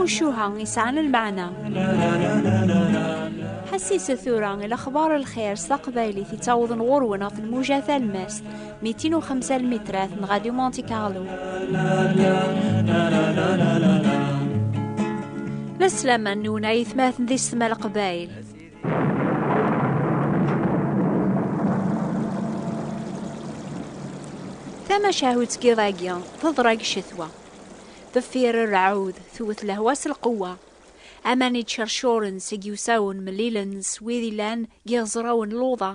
timucuha yesɛan lmeɛna ḥassiset tura i lexbar lxir s taqbaylit yettawḍen ɣur-wen ɣef lmuja talmast mitin u xemsa lmitrat n Radio Monte Carlo la slaman nwen ay atmaten di setma leqbayel Tamacahut n yiḍ-agi teḍra deg ccetwa. Deffir rrɛud, tewwet lehwa s lqewwa. Aman ittcercuren seg yiwsawen mellilen s wid yellan deg yiɣezrawen n luḍa,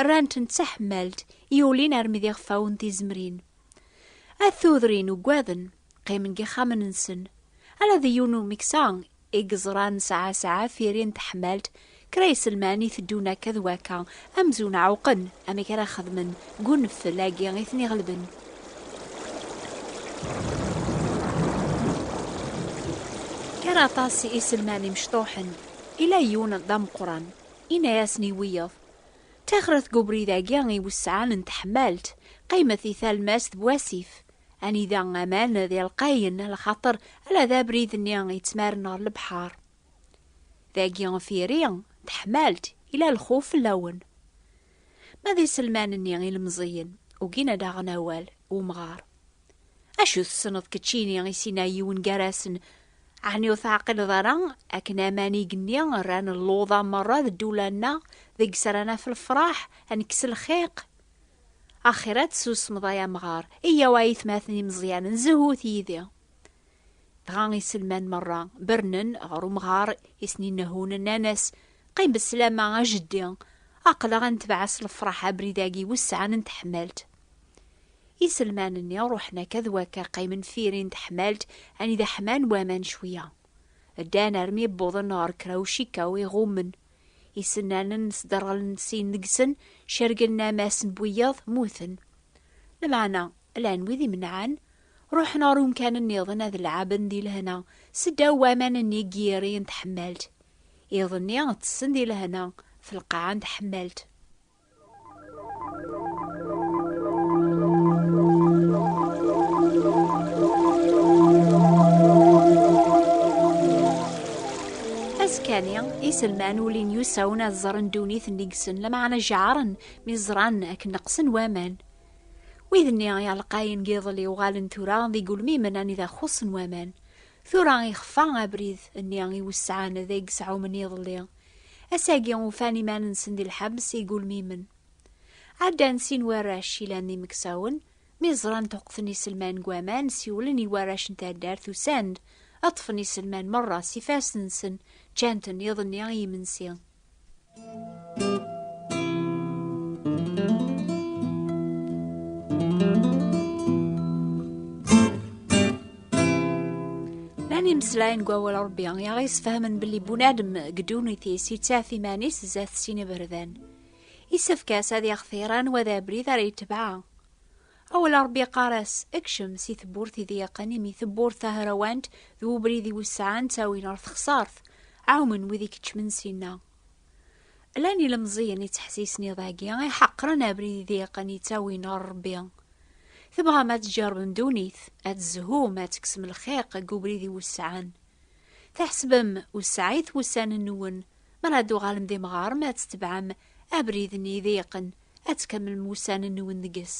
rran-ten d taḥemmalt i ulin armi d iɣfawen tizemrin. At tudrin ugaden, qqimen deg yixxamen-nsen. Ala d yiwen umeksa I yeẓra nesɛa sɛa tiri n teḥmalt, kra iselman iteddun akka d wakka amzun ɛewqen amek ara xedmen deg uneftel agi i ten-iɣelben. Gar aṭas iselman imecṭuḥen, ila yiwen d ameqqran, ina-yasen i wiyeḍ, Ttaxret deg ubrid agi i wesɛan n teḥmalt, qqimet di talmast d wasif, Anida aman d ilqayen, lxaṭer ala d abrid-nni yettmaren ɣer lebḥar. Dagi firi, teḥmalt, ila lxuf fell-awen. Ma d iselman-nni ilemẓiyen, ugin ad aɣen awal, umɣar. Acu tessneḍ keččini i sina yiwen gar-asen, ɛni ur teɛqileḍ ara akken amanig-nni rran luḍa merra d ddula-nneɣ deg-s ara naf lefraḥ, ad nekkes lxiq? Axir ad tessusmeḍ ay amɣar, eyyaw a aytmaten imeẓyanen, zhut yid-i! Dɣa iselman merra bernen ɣer umɣar i sen-innehhun, nnan-as, Qqim besslama, a jeddi! Aql-aɣ a netbeɛ s lefraḥ abrid-agi wis sɛan n teḥmalt. Iselman-nni ruḥen akka d wakka qqimen firi n teḥmalt anida ḥman waman cwiya. Ddan armi wwḍen ɣer kra ucikaw iɣummen. Isennanen n sderɣlen sin deg-sen, cergen ammas n wiyaḍ, mmuten. Lmeɛna, llan wid imenɛen, ruḥen ɣer umkan nniḍen ad lɛaben di lehna seddaw waman-nni n yiri n tḥemmalt. Iḍ-nni, ttessen di lehna f lqaɛa n tḥemmalt. azekani iselman ulin yusawen ad ẓren ddunit n igsen lameɛna jeɛren mi ẓran akken neqsen waman wid-nni iɛelqayen n yiḍelli uɣalen tura d igulmimen anida xuṣṣen waman tura ixfa abrid-nni i wesɛan deg sɛumen iḍelli Ass-agi ufan iman-nsen di lḥebs igulmimen. Ɛeddan sin warrac yellan d imeksawen, mi ẓran tuqqten iselman deg waman, siwlen i warrac n taddart usan-d ad ṭṭfen iselman merra s ifassen-nsen, ččan-ten iḍ-nni i yimensi. Lan imeslayen deg wawal Ṛebbi i aɣ-yesfahamen belli bunadem deg ddunit-is yettaf iman-is zdat sin iberdan. Isefk-as ad yextir anwa d abrid ara yetbeɛ. Awal Ṛebbi yeqqar-as, ekcem si tewwurt i d-yeqqen imi tewwurt tahrawant d ubrid i wesɛan ttawin ɣer texsart. Ɛumen wid ikeččmen sinna. Llan ilemẓiyen yettḥessisen iḍ-agi i ḥeqren abrid idiqen yettawin ɣer Rebbi. Tebɣam ad tjerbem ddunit, ad tzehum, ad teksem lxiq deg ubrid iwesɛen. Tḥesbem wesɛit wussan-nwen, mi ara d-tuɣalem d imɣaren ad tetebɛem abrid-nni idiqen, ad tkemmlem wussan-nwen deg-s.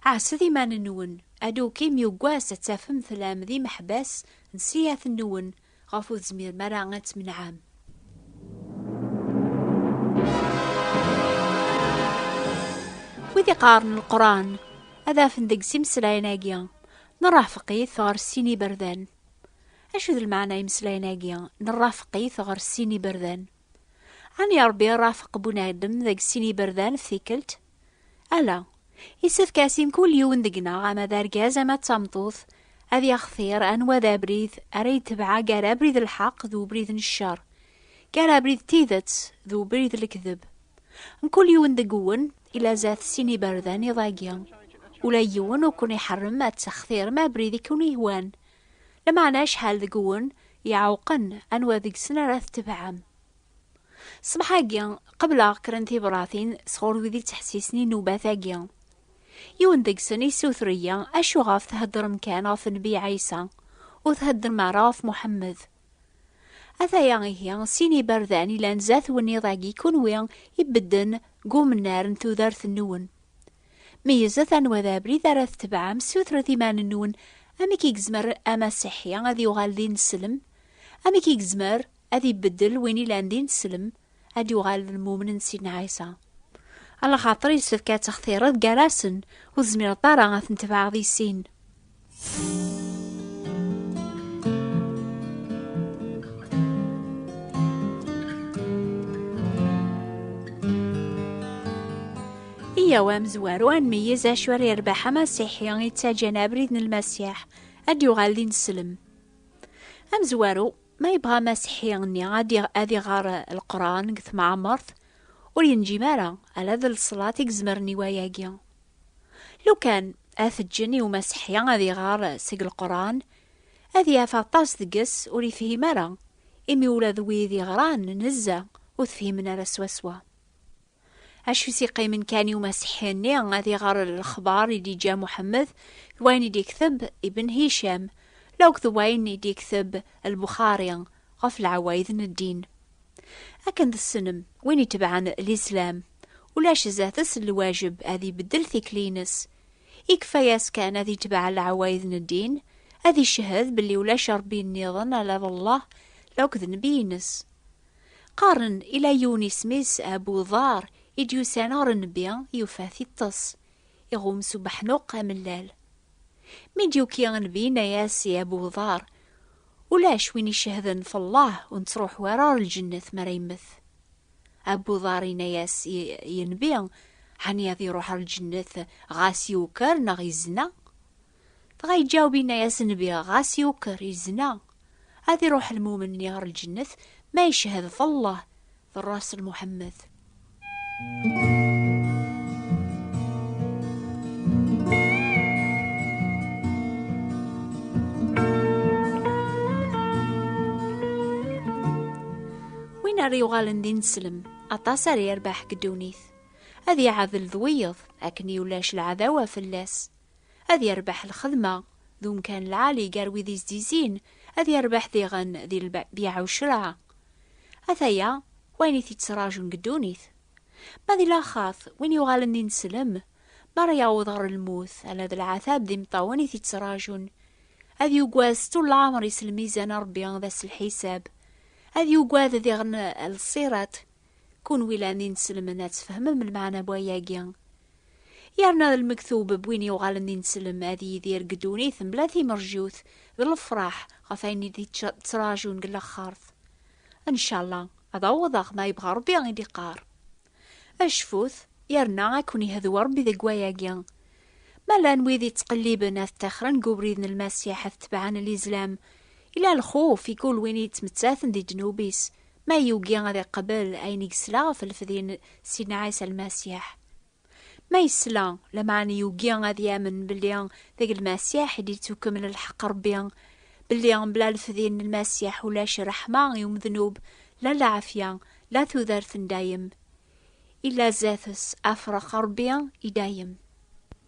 Ɛasset iman-nwen, adukim yuggas ad tafem tellam d imeḥbas n siyat-nwen, ɣef ur tezmirem ara ad tmenɛem. Wid iqaren lqran ad afen deg simeslayen-agi nerrafeq-it ɣer sin iberdan. Acu d lmeɛna imeslayen-agi nerrafeq-it ɣer sin iberdan? Ɛni Ṛebbi irrafeq Bunadem deg sin iberdan f tikkelt? Ala, isefk as i mkul yiwen deg-neɣ ama d argaz ama d tameṭṭut ad yaxtir anwa d abrid ara yetbeɛ gar abrid n lḥeqq d ubrid n ccer, gar abrid n tidet d ubrid n lekdeb. Mkul yiwen deg-wen ila zdat sin iberdan iḍ-agi. Ula yiwen ur ken-iḥerrem ad textirem abrid i ken-ihwan. Lameɛna acḥal deg-wen iɛewqen anwa deg-sen ara tetbeɛem. Ṣṣbeḥ-agi, qebleɣ kra n tibṛatin sɣur wid yettḥessisen i nnubat-agi. Yiwen deg-sen yessuter-iyi, Acu ɣef theddṛem kan ɣef Nnbi Ɛisa, ur theddṛem ara ɣef Muḥemmed? Ataya ihi sin n yiberdan yellan zdat wenniḍ-agi, kunwi ibedden deg umennar n tudert-nwen. Meyyzet anwa d abrid ara tetebɛem, ssutret iman-nwen, amek i yezmer Amasiḥi ad yuɣal d ineslem? Amek i yezmer Ad ibeddel win ilan di neslem, ad d-yuɣal d lmumen n Sidna Ɛisa. A lxaṭer yessefk ad textireḍ gar-asen, ur tezmireḍ ara ad ten-tebɛeɣ di sin. Yyaw a amezwaru ad nmeyyez acu ara yerbeḥ amasiḥi yettaǧǧan abrid n Lmasiḥ, ad d-yuɣal d ineslem. Amezwaru, Ma yebɣa Maseḥi nni ad ad iɣer Leqran deg temɛemert, ur yenǧim ara, ala d leṣlat i yezmren i wayagi. Lukan ad t-ǧǧen i Umaseḥi ad iɣer seg Leqran, ad yaf aṭas deg-s ur yefhim ara, imi ula d wid iɣran nezzeh ur t-fhimen ara swaswa. Acu i s-iqqimen kan i umasiḥi-nni ad iɣer lexbar i d-iǧǧa Muḥemmed d wayen i d-ikteb Ibn Hicam, la akk d wayen i d-ikteb Lbuxari ɣef leɛwayed n ddin. Akken tessnem, win itebɛen Lislam, ulac zdat-s lwajeb ad ibeddel tikli-ines. Ikfa-yas kan ad itbeɛ leɛwayed n ddin, ad icehhed belli ulac Rebbi nniḍen ala d Allah, la akk d Nnbi-ines. Qqaren ila yiwen isem-is Abu Dharr i d-yusan ɣer nnbi, yufa-t iṭṭes, iɣum s ubeḥnuq amellal. Mi d-yuki nnbi yenna-as i Abu Dharr, Ulac win icehden f Allah ur nettruḥu ara ɣer lǧennet mi ara yemmet. Abu Dharr yenna-as i nnbi, Ɛni ad iruḥ ɣer lǧennet ɣas yuker neɣ yezna? Dɣa iǧaweb inna-yas Nnbi, ɣas yuker, yezna, ad iruḥ lmumen-nni ɣer lǧennet ma yeched ɣef Allah d Rrasul Muḥemmed. Win ara yuɣalen d ineslem, aṭas ara yerbeḥ deg ddunit. Ad iɛadel d wiyeḍ, akken i ulac lɛadawa fell-as. ad yerbeḥ lxedma d umkan lɛali gar wid izdisin, ad yerbeḥ diɣen di lbeyɛ u ccreɛ. Ataya wayen i t-ittraǧun deg ddunit. Ma di laxat, win yuɣalen d ineslem, mi ara yaweḍ ɣer lmut, ala d lɛatab d imeṭṭawen i t-ittraǧun. Ad yugad s tul lɛemr-is lmizan n Rebbi d ass n lḥisab. Ad yugad diɣen lṣirat. Kunwi llan d ineslmen ad tfehmem lmeɛna n wayagi. Yerna d lmektub n win yuɣalen d ineslem ad yidir deg ddunit mebla timerjut d lefraḥ ɣef ayen i d-yettrajun deg laxert. Ncalla ad awḍeɣ ma yebɣa Rebbi i d-iqqar. Cfut yerna ad ken-iheddu Rebbi deg wayagi. Ma llan wid yettqelliben ad ṭṭixren deg ubrid n Lmasiḥ ad tebɛen Lizlam, yella lxuf i kul win yettmettaten di ddnub-is, Ma yugi ad iqbel ayen i yesla ɣef lefdi n Sidna Ɛisa Lmasiḥ. Ma yesla, lameɛna yugi ad yamen belli deg Lmasiḥ i d-yettukemmel lḥeqq Ṛebbi, belli bla lefdi n Lmasiḥ ulac ṛṛeḥma i umednub, la lɛafya, la tudert n dayem. Illa zdat-s, afṛex Ṛebbi i dayem.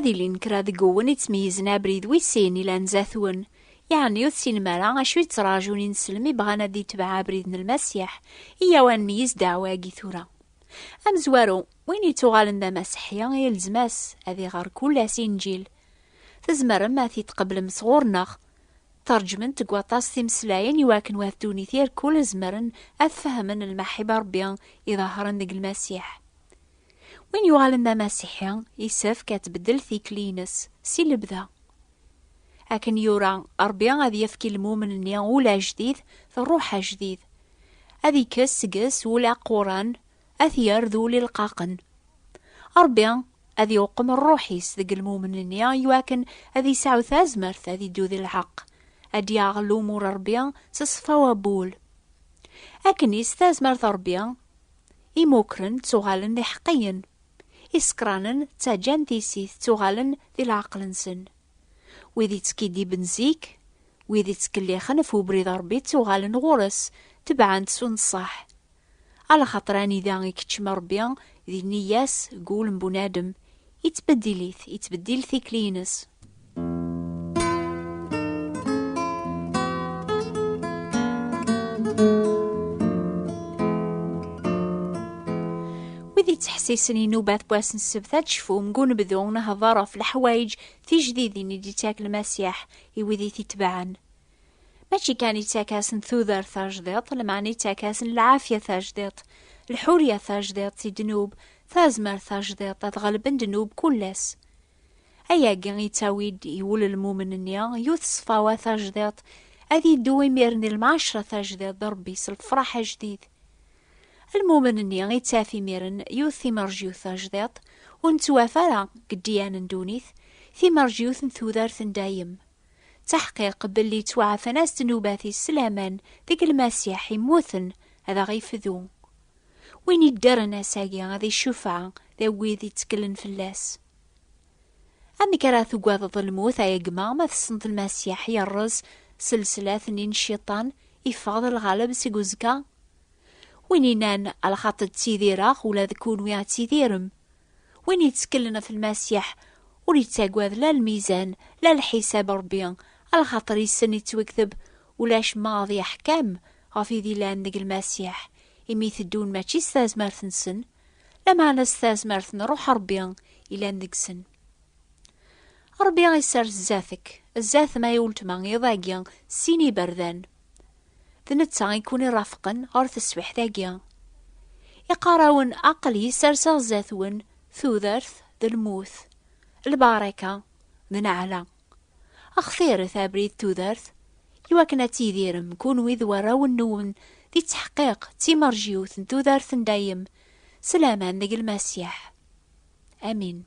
ad ilin kra deg uwen ittmeyyizen abrid wis sin ilan zatwen. Yeɛni ur tessinem ara acu yettraǧun ineslem i bɣan ad itbeɛ abrid n Lmasiḥ, iyaw ad nmeyyiz ddeɛwa-agi tura. Amezwaru, win yettuɣalen d amaseḥi, yelzem-as ad iɣer kul ass Inǧil. Tzemrem ad t-id-tqeblem sɣur-neɣ. Tṛeǧment deg waṭas timeslayin i wakken wat ddunit irkul zemren ad fehmen lmaḥib n Ṛebbi iḍehṛen deg Lmasiḥ. Win yuɣalen d amasiḥi isefk ad tbeddel tikli-ines si lebda. Akken yura Ṛebbi ad yefk i lmumen-nni ul ajdid d ṛṛuḥ ajdid, ad ikkes seg-s ul aquran ad t-yerr d ul ilqaqen. Ṛebbi ad iweqqem rruḥ-is deg lmumen-nni iwakken ad yesɛu tazmert ad iddu di lḥeqq, ad d-yaɣ lumuṛ n Ṛebbi s ṣṣfa wawwul. Akken is tazmert n Ṛebbi, imukren ttuɣalen d iḥeqqiyen, isekranen ttaǧǧan tissit ttuɣalen di leɛqel-nsen. Wid ittkidiben zik, wid ittkellixen ɣef ubrid n Ṛebbi ttuɣalen ɣur-s, tebɛen-t s unṣaḥ, Alaxaṭer anida i keččem Ṛebbi, di nniya-s, deg wul n bunadem, ittbeddil-it, ittbeddil tikli-ines. Wid yettḥessisen inubat n wass n ssebt ad cfun deg unebdu n hder ɣef leḥwayeǧ tijdidin i d-yettak Lmasiḥ i wid i t-itebɛen. mačči kan ittak-asen tudert tajdiḍt lmeɛna ittak-asen lɛafya tajdiḍt lḥurya tajdiḍt i ddnub tazmert tajdiḍt ad ɣelben ddnub kullas ayagi yettawi-d i wul lmumen-nni yut ṣfawa tajdiḍt ad yeddu imir-nni lmaɛcra tajdiḍt d rebbi s lefraḥ ajdid lmumen-nni ittaf imiren yut timerjyut tajdiḍt ur nettwaf ara deg ddyan n ddunit timerjyut n tudert n dayem D taḥqiq belli ttwaɛfan-as ddnubat-is s laman deg Lmasiḥ immuten, ad aɣ-ifdu. Win yeddren ass-agi ad iccufeɛ d wid yetteklen fell-as. Amek ara tuggadeḍ lmut ay gma ma tessneḍ Lmasiḥ yerreẓ s leslat-nni n Cciṭan, yeffeɣ-d lɣaleb seg uzekka? Win yennan, A lxaṭ ttidireɣ, ula d kunwi ad tidirem. Win yettkellen ɣef Lmasiḥ ur yettagad la lmizan, la lḥisab Ṛebbi, alxaṭer yessen yettwekteb ulac ma ad yeḥkem ɣef id yellan deg Lmasiḥ, imi iteddun mačči s tazmert-nsen, lameɛna s tazmert n Ṛuḥ Ṛebbi yellan deg-sen. Ṛebbi isers zdat-k, zdat-m ay uletma iḍ-agi sin iberdan. D netta i kun-irafqen ɣer teswiḥt-agi. Iqarawen aql-i serseɣ zdat-wen tudert d lmut, lbaraka d neɛla. Xtiret abrid tudert i wakken ad tidirem kunwi d warraw-nwen di ttḥeqqiq d timerjiwt n tudert n dayem s laman deg Lmasiḥ. Amin.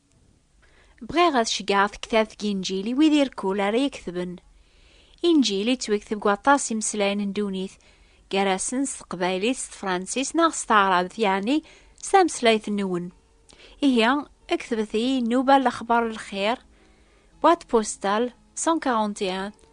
Bɣiɣ ad ceggɛeɣ tektabt deg Inǧil i wid irkul ara yeketben. Inǧil yettwekteb deg waṭas imeslayen n ddunit, gar-asen s teqbaylit, s tefransist neɣ s taɛrabt, yeɛni s tameslayt-nwen. Ihi, ketbet-iyi nnuba lexbar n lxir, boîte postale 141,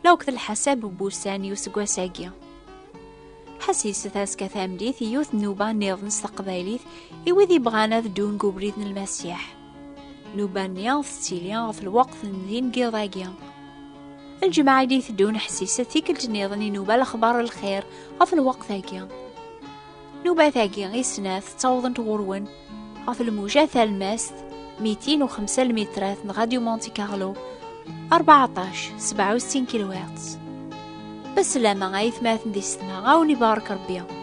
la wekd lḥasab n wussan i useggas-agi. Ḥasis taska tamlit i yiwet nnuba niḍen s teqbaylit i wid ibɣan ad ddun deg ubrid n lmasiḥ. Nnuba-nni tettili ɣef lweqt n din n yiḍ-agi. Lǧemɛa i d-iteddun ḥsiset tikkelt niḍen inuba lexbar lxir ɣef lweqt-agi. Nubat-agi i snat ttawḍent ɣur-wen ɣef lmuja talmast 205 lmitrat n Radio Monte Carlo 14 67 kilowatts. Beslama ay tmaten di setma ɣawen ibarak Rebbi.